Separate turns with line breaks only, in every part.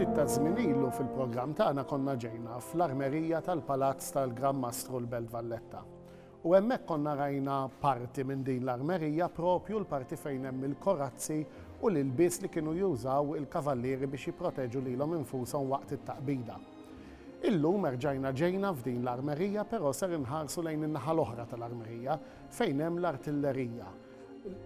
ftit ta' żmien ilu fil-programm tagħna konna ġejna fl-armerija tal-Palazz tal-Gran Mastru l-Belt Valletta. U hemmhekk konna rajna parti minn din l-armerija propju l-parti fejn hemm il-korazzi u l-ilbies li kienu jużaw il-kavallieri biex jipproteġu lilhom infushom waqt it-taqbida. Illum erġajna ġejna f'din l-armerija però ser inħarsu lejn in-naħa l-oħra tal-armerija fejn hemm l-artillerija.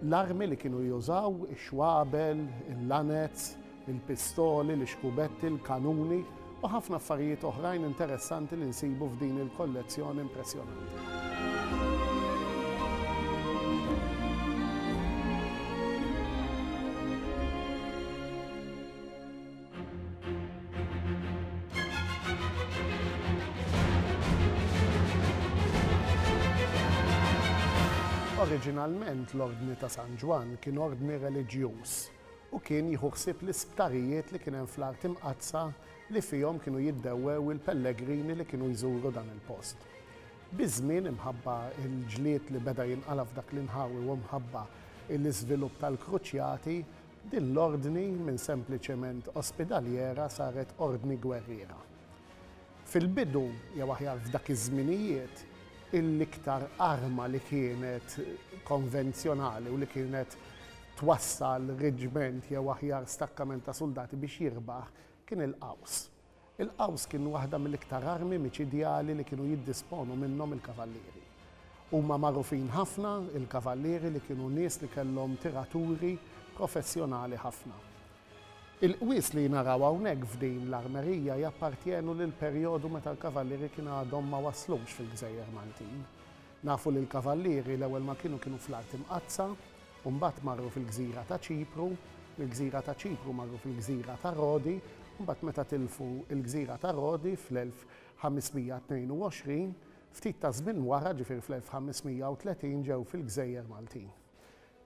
L-armi li kienu jużaw, ix-xwabel, il-lanez, il-pistoli, l-ixkubetti, il-kanuni u ħafna affarijiet oħrajn interessanti li nsibu f'din il-kollezzjoni impressjonanti. Oriġinalment l-Ordni ta' San Ġwann kien ordni reliġjuż u kien jieħu ħsieb l-isptarijiet li kien hemm fl-Art Imqaddsa li fihom kienu jiddewwew il-pellegrini li kienu jżuru dan il-post. Biż-żmien imħabba l-ġlied li beda jinqala' f'dak l-inħawi u mħabba l-iżvilupp tal-kruċjati, Din l-ordni minn sempliċement ospidaljera saret ordni gwerriera. Fil-bidu, jew aħjar f'dak iż-żminijiet, il-iktar arma li kienet konvenzjonali u li kienet twassal reġiment jew aħjar stakkament ta' suldati biex jirbaħ kien il-qaws. Il-qaws kien waħda mill-iktar armi miċidjali li kienu jiddisponu minnhom il-kavallieri. Huma magħrufin ħafna, il-kavallieri, li kienu nies li kellhom tiraturi professjonali ħafna. Il-qwies li naraw hawnhekk f'din l-armerija jappartjenu lill-perjodu meta l-kavallieri kien għadhom ma waslux fil-gżejjer Maltin. Nafu li l-kavallieri l-ewwel ma kienu kienu fl-Art Imqaddsa u mbagħad marru fil-gżira ta' Ċipru, mill-gżira ta' Ċipru marru fil-gżira ta' Rodi u mbagħad meta tilfu l-gżira ta' Rodi fl-1522, ftit taż-żmien wara, ġifieri fl-1530 ġew fil-gżejjer Maltin.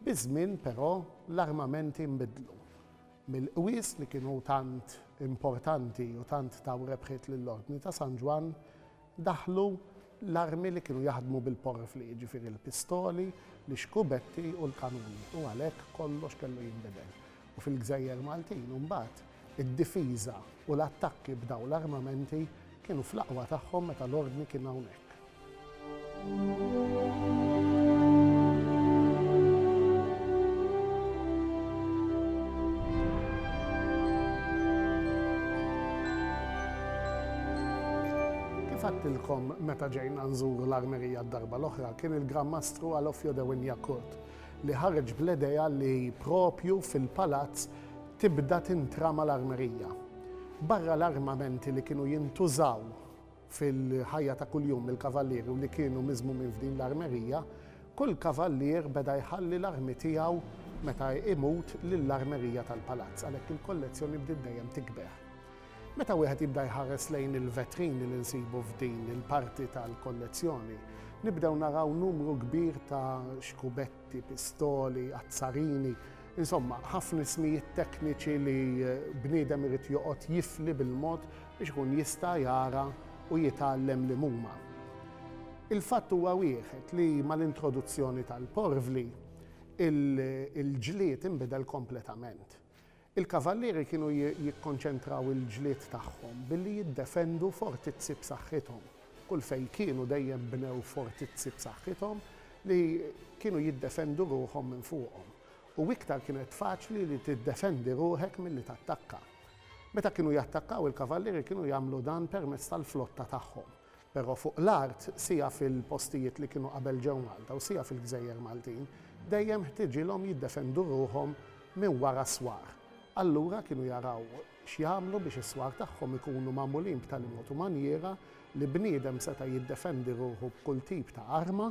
Biż-żmien però l-armamenti nbidlu. Mill-qwies li kienu tant importanti u tant taw rebħiet lill-Ordni ta' San Ġwann, Daħlu l-armi li kienu jaħdmu bil-porfli, jiġifieri l-pistoli, l-ixkubetti u l-kanuni u għalhekk kollox kellu jinbidel. U fil-gżejjer Maltin imbagħad id-difiża u l-attakki b'dawn l-armamenti kienu fl-aqwa tagħhom meta l-ordni kien hawnhekk. Għattilkom meta ġejna nżuru l-armerija d-darba l-oħra kien il-Gran Mastru Alofio de Winjakurt li ħarġ bl-edeja li propju fil-palazz tibda tintrama l-armerija. Barra l-armamenti li kienu jintużaw Fil-ħajja ta' kuljum il-kavallieri u li kienu miżmumin f'din l-armerija, kull kavallier beda jħalli l-armi tiegħu meta jmut lill-armerija tal-palazz, għalhekk il-kollezzjoni bdiet dejjem tikber. Meta wieħed jibda jħares lejn il-vetrini li nsibu f'din il-parti tal-kollezzjoni, nibdew naraw numru kbir ta' xkubetti, pistoli, azzarini, insomma, ħafna ismijiet tekniċi li bniedem irid joqgħod jifli bil-mod biex ikun jista' jara u jitgħallem li mhuma. Il-fatt huwa wieħed li mal-introduzzjoni tal-porvli, il-ġlied inbidel kompletament. Il-kavallieri kienu jikkonċentraw il-ġlied tagħhom billi jiddefendu fortizzi b'saħħithom. Kull fejn kienu dejjem bnew fortizzi b'saħħithom li kienu jiddefendu ruħhom minn fuqhom. U iktar kienet faċli li tiddefendi ruħek milli tattakka. Meta kienu jattakkaw, il-kavallieri kienu jagħmlu dan permezz tal-flotta tagħhom, però fuq l-art, siha fil-postijiet li kienu qabel ġew Malta u siha fil-gżejjer Maltin, dejjem ħtiġilhom jiddefendu ruħhom minn wara s-swar. Allura kienu jaraw x'jagħmlu biex is-swar tagħhom ikunu magħmulin b'tali mod u manjiera li bniedem seta' jiddefendi ruħu b'kull tip ta' arma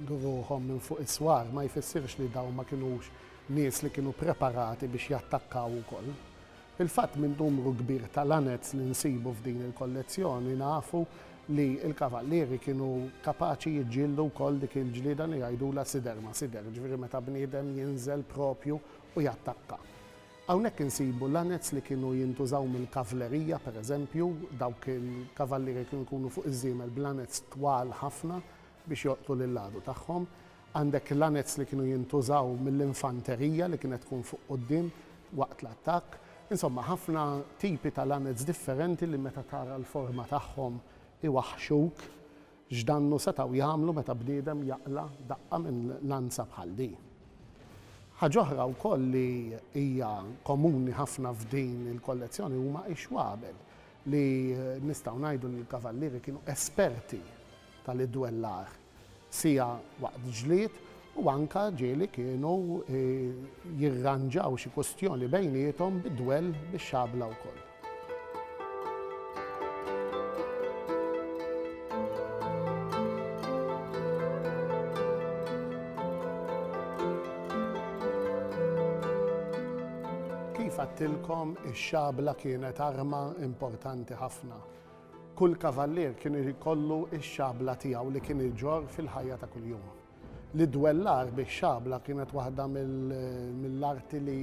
Jieħdu ruħhom minn fuq is-swar ma jfissirx li dawn ma kinux nies li kienu preparati biex jattakkaw ukoll. Fil-fatt, minn numru kbir ta' lanez li nsibu f'din il-kollezzjoni nafu li l-kavallieri kienu kapaċi jiġġieldu wkoll dik il-ġlieda li jgħidulha sider ma' sider, jiġifieri meta bniedem jinżel proprju u jattakka. Hawnhekk insibu lanez li kienu jintużaw mill-kavlerija, pereżempju, dawk il-kavallieri kienu jkunu fuq iż-żiemel b'lanez twal ħafna biex joqtlu lill-għadu tagħhom. Għandek lanets li kienu jintużaw mill-infanterija li kienet tkun fuq quddiem waqt l-attakk. Insomma, ħafna tipi ta' lanets differenti li meta tara l-forma tagħhom iwaħħxuk. X'dannu setgħu jagħmlu meta bniedem jaqla' daqqa minn lanza bħal di? Ħaġa oħra wkoll li hija komuni ħafna f'din il-kollezzjoni huma x-xwabel, li nistgħu ngħidu li l-kavallieri kienu esperti ta' li dwellah siegħa waqt ġlied u anke ġieli kienu jirranġaw xi kustjoni bejniethom bi dwell bix-xabla wkoll. Kif għedtilkom ix-xabla kienet arma importanti ħafna. Kull kavallier kien irid jkollu x-xabla tiegħu li kien iġorr fil-ħajja ta' kuljum. L-iddwellar bix-xabla kienet waħda mill-arti li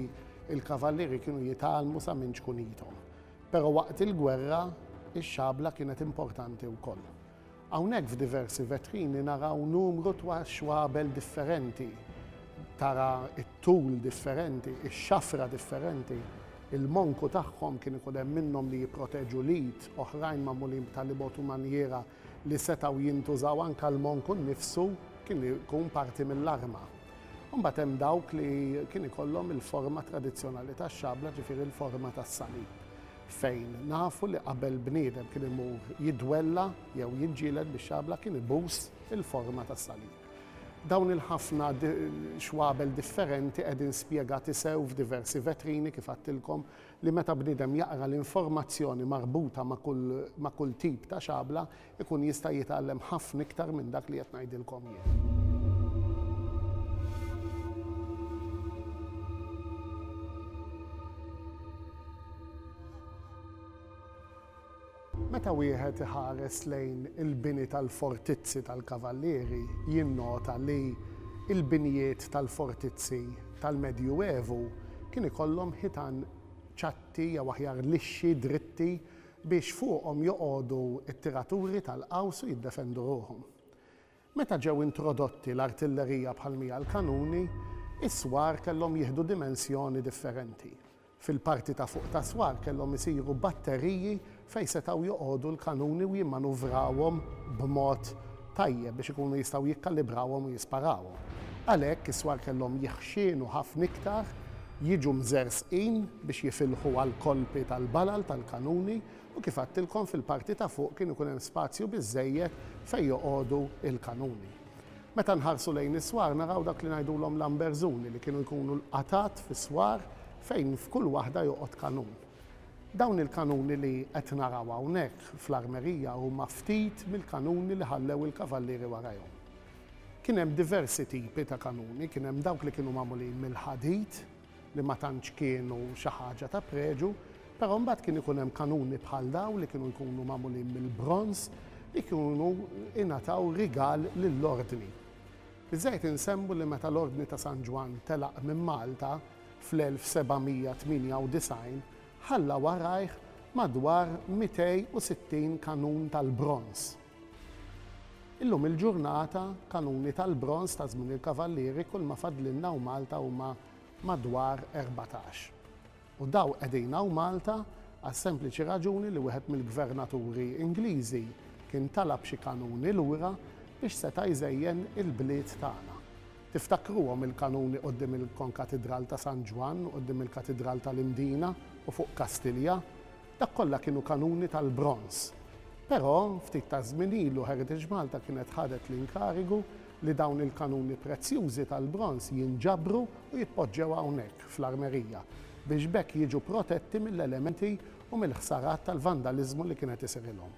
l-kavallieri kienu jitgħallmu sa minn ċkunithom. Però waqt il-gwerra, ix-xabla kienet importanti wkoll. Hawnhekk f'diversi vetrini naraw numru twa xwabel differenti. Tara t-tul differenti, ix-xafra differenti. Il-monku tagħhom kien ikun hemm minnhom li jipproteġu l-id, oħrajn magħmulin b'talibot u manjiera li setgħu jintużaw anke l-monku nnifsu kien ikun parti mill-arma. Imbagħad hemm dawk li kien ikollhom il-forma tradizzjonali tax-xabla ġifieri l-forma tas-salib fejn nafu li qabel bniedem kien imur jidwella jew jiġġieled bix-xabla kien ibus il-forma tas-salib. Dawn il-ħafna xwabel differenti qegħdin spjegati sew f'diversi vetrini, kif għadtilkom, li meta bniedem jaqra l-informazzjoni marbuta ma' kull tip ta' xabla, ikun jista' jitgħallem ħafna iktar minn dak li qed ngħidilkom jien. Meta wieħed iħares lejn il-bini tal-fortizzi tal-kavallieri jinnota li l-binjiet tal-fortizzi tal-Medju Evu kien ikollhom ħitan ċatti jew aħjar lixxi, dritti, biex fuqhom joqogħdu t-tiraturi tal-qaws u jiddefendu ruħhom. Meta ġew introdotti l-artillerija bħal mija l-kanuni, is-swar kellhom jieħdu dimensjoni differenti. Fil-parti ta' fuq tas-swar kellhom isiru batteriji fejn setgħu joqogħdu l-kanuni u jimmanuvrawhom b'mod tajjeb biex ikunu jistgħu jikkalibrawhom u jisparawhom. Għalhekk, is-swar kellhom jiħxienu ħafna iktar, jiġu mżerżqin biex jifilħu għall-kolpi tal-balal tal-kanuni U kif għadtilkom fil-parti ta' fuq kien ikun hemm spazju biżżejjed fejn joqogħdu l-kanuni. Meta nħarsu lejn is-swar naraw dak li ngħidulhom l-amberżuni li kienu jkunu l-qatgħat fis-swar fejn f'kull waħda joqgħod kanun. Dawn il-kanuni li qed naraw hawnhekk fl-armerija huma ftit mill-kanuni li ħallew il-kavallieri warajhom. Kien hemm diversi tipi ta' kanuni, kien hemm dawk li kienu magħmulin mill-ħadid, li ma tantx kienu xi ħaġa ta' preġu, però mbagħad kien ikun hemm kanuni bħal dawn li kienu jkunu magħmulin mill-bronż li kienu ingħataw rigal lill-Ordni. Iżżejjed insemmu li meta l-Ordni ta' San Ġwann telaq minn Malta fl-1798 ħalla warajh madwar 260 kanun tal-bronż. Illum il-ġurnata, kanuni tal-bronż ta' żmien il-Kavallieri kull ma fadlilna hawn Malta huma madwar erbatax. U daw qegħdin hawn Malta għas-sempliċi raġuni li wieħed mill-gvernaturi Ingliżi kien talab xi kanuni lura biex seta' jżejjen il-bliet tagħna. Tiftakruhom il-kanuni quddiem il-Konkatidral ta' San Ġwann, quddiem il-Katidral tal-Imdina u fuq Kastilja? Dak kollha kienu kanuni tal-bronż. Però, ftit taż-żmien ilu Heritage Malta kienet ħadet l-inkarigu li dawn il-kanuni prezzjużi tal-bronż jinġabru u jitpoġġew hawnhekk, fl-armerija, biex b'hekk jiġu protetti mill-elementi u mill-ħsarat tal-vandaliżmu li kien qed isirilhom.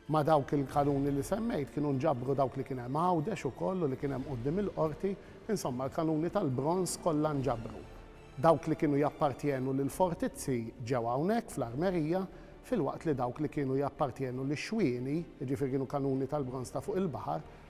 Ma' dawk il-kanuni li semmejt kienu nġabru dawk li kien hemm Għawdex ukoll u li kien hemm quddiem il-Qorti, insomma l-kanuni tal-bronż kollha nġabru. Dawk li kienu jappartjenu lill-fortizzi ġew hawnhekk fl-armerija filwaqt li dawk li kienu jappartjenu lix-xwieni, jiġifieri kienu kanuni tal-bronż ta' fuq il-baħar,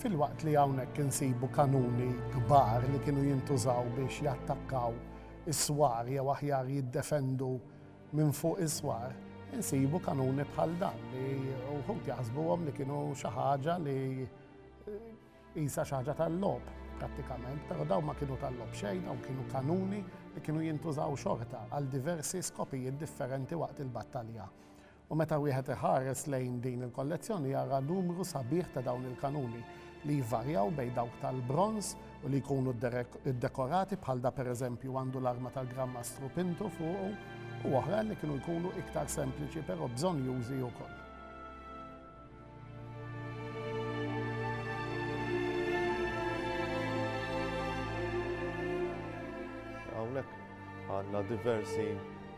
Filwaqt li hawnhekk insibu kanuni kbar li kienu jintużaw biex jattakkaw is-swar jew aħjar jiddefendu minn fuq is-swar, insibu kanuni bħal dan li wħud jaħsbuhom li kienu xi ħaġa li jisa xi ħaġa tal-logħob prattikament, però dawn ma kienu tal-logħob xejn, dawn kienu kanuni li kienu jintużaw xorta għal diversi skopijiet differenti waqt il-battalja. U meta wieħed iħares lejn din il-kollezzjoni jara numru sabiħ ta' dawn il-kanuni li jvarjaw bejn dawk tal-bronż u li jkunu ddekorati bħal da pereżempju għandu l-arma tal-Gran Mastru Pintu fuqu u oħrajn li kienu jkunu iktar sempliċi però bżonnjużi wkoll. għandna diversi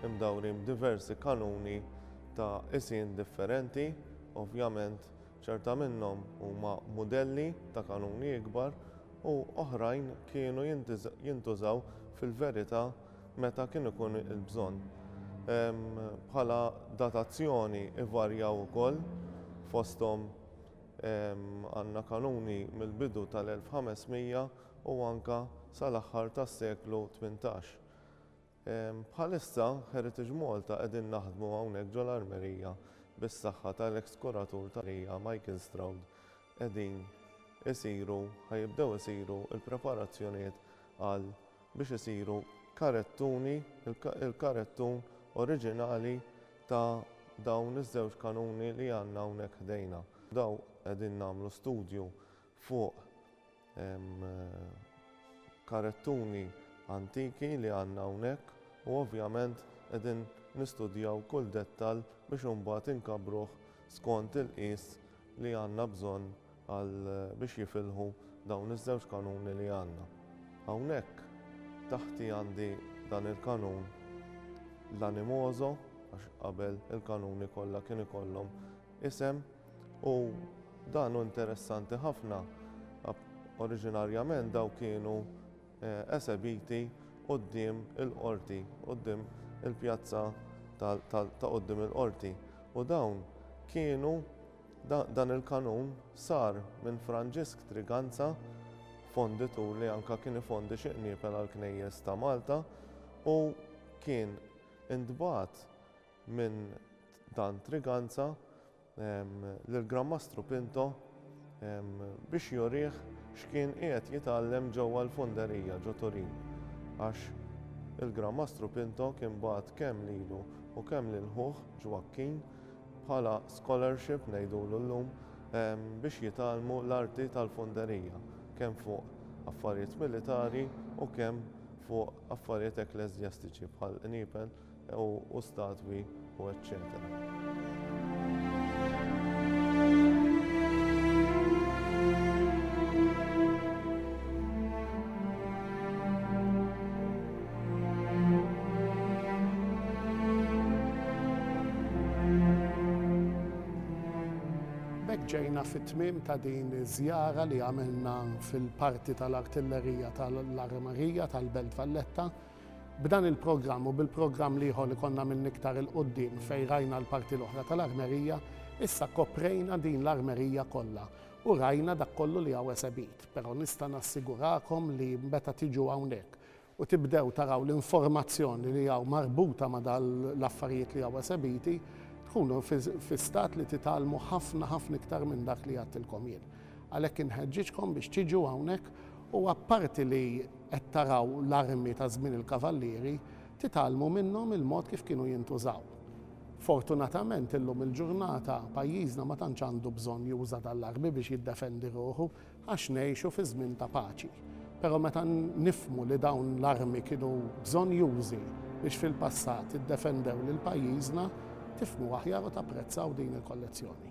imdawrim, diversi kanuni ta' isin differenti, ovvjament ċerta minnhom huma modelli ta' kanuni ikbar u oħrajn kienu jintużaw fil-verità meta kien ikun il-bżonn. Bħala datazzjoni ivarjaw ukoll, fosthom għandna kanuni mill-bidu tal-1500 u anke sal-aħħar tas-seklu tmintax. Bħalissa Heritage Malta qegħdin naħdmu hawnhekk ġol-armerija bis-saħħa tal-eks kuratur tal-armerija Michael Stroud qegħdin isiru, ħa jibdew isiru l-preparazzjonijiet għal biex isiru karettuni, il-karettun oriġinali ta' dawn iż-żewġ kanuni li għandna hawnhekk ħdejna. Dawn qegħdin nagħmlu studju fuq Hemm karettuni antiki li għandna hawnhekk u ovvjament qegħdin nistudjaw kull dettall biex imbagħad inkabbruh skont il-qies li għandna bżonn għal biex jifilħu dawn iż-żewġ kanuni li għandna. Hawnhekk taħti għandi dan il-kanun l-animoso għax qabel il-kanuni kollha kien ikollhom isem. U dan hu interessanti ħafna. Oriġinarjament daw kienu eh, esebiti qoddim il-qorti, qoddim il-pjazza ta' qoddim il-qorti. U dawn kienu dan il-kanun sar minn Franġisk Triganza, fonditur li anka kien ifondi xi qniepel għall-knejjes ta' Malta u kien intbagħat Minn Dan Triganza lill-Granmastru Pinto biex jurih x'kien qiegħed jitgħallem ġewwa l-Funderija ġo Turin għax il-Granmastru Pinto kien bagħat kemm lilu u kemm lil ħuh Ġwakkin bħala scholarship ngħidulu llum biex jitgħallmu l-arti tal-funderija kemm fuq affarijiet militari u kemm fuq affarijiet ekklesjastiċi bħall-qniepen u statwi u eċċetera. ġejna fit-tmim ta' din iż-żjara li għamilna fil-parti tal-artillerija tal-armerija tal-Belt Valletta B'dan il-programm u bil-programm l-ieħor li konna għamilna iktar 'il quddiem fejn rajna l-parti l-oħra tal-armerija, issa koprejna din l-armerija kollha u rajna dak kollu li hawn esebit. Però nista' nassigurakom li meta tiġu hawnhekk u tibdew taraw l-informazzjoni li hawn marbuta ma' dan l-affarijiet li hawn esebiti, tkunu fi stat li titgħallmu ħafna ħafna iktar minn dak li għedtilkom jien. Għalhekk inħeġġiġkom biex tiġu hawnhekk u apparti li qed taraw l-armi ta' żmien il-Kavallieri, titgħallmu minnhom il-mod kif kienu jintużaw. Fortunatament illum il-ġurnata pajjiżna ma tantx għandu bżonn juża' dan l-armi biex jiddefendi ruħu għax ngħixu fi żmien ta' paċi. Però meta nifhmu li dawn l-armi kienu bżonnjużi biex fil-passat iddefendew lil pajjiżna, tifhmu aħjar u tapprezzaw din il-kollezzjoni.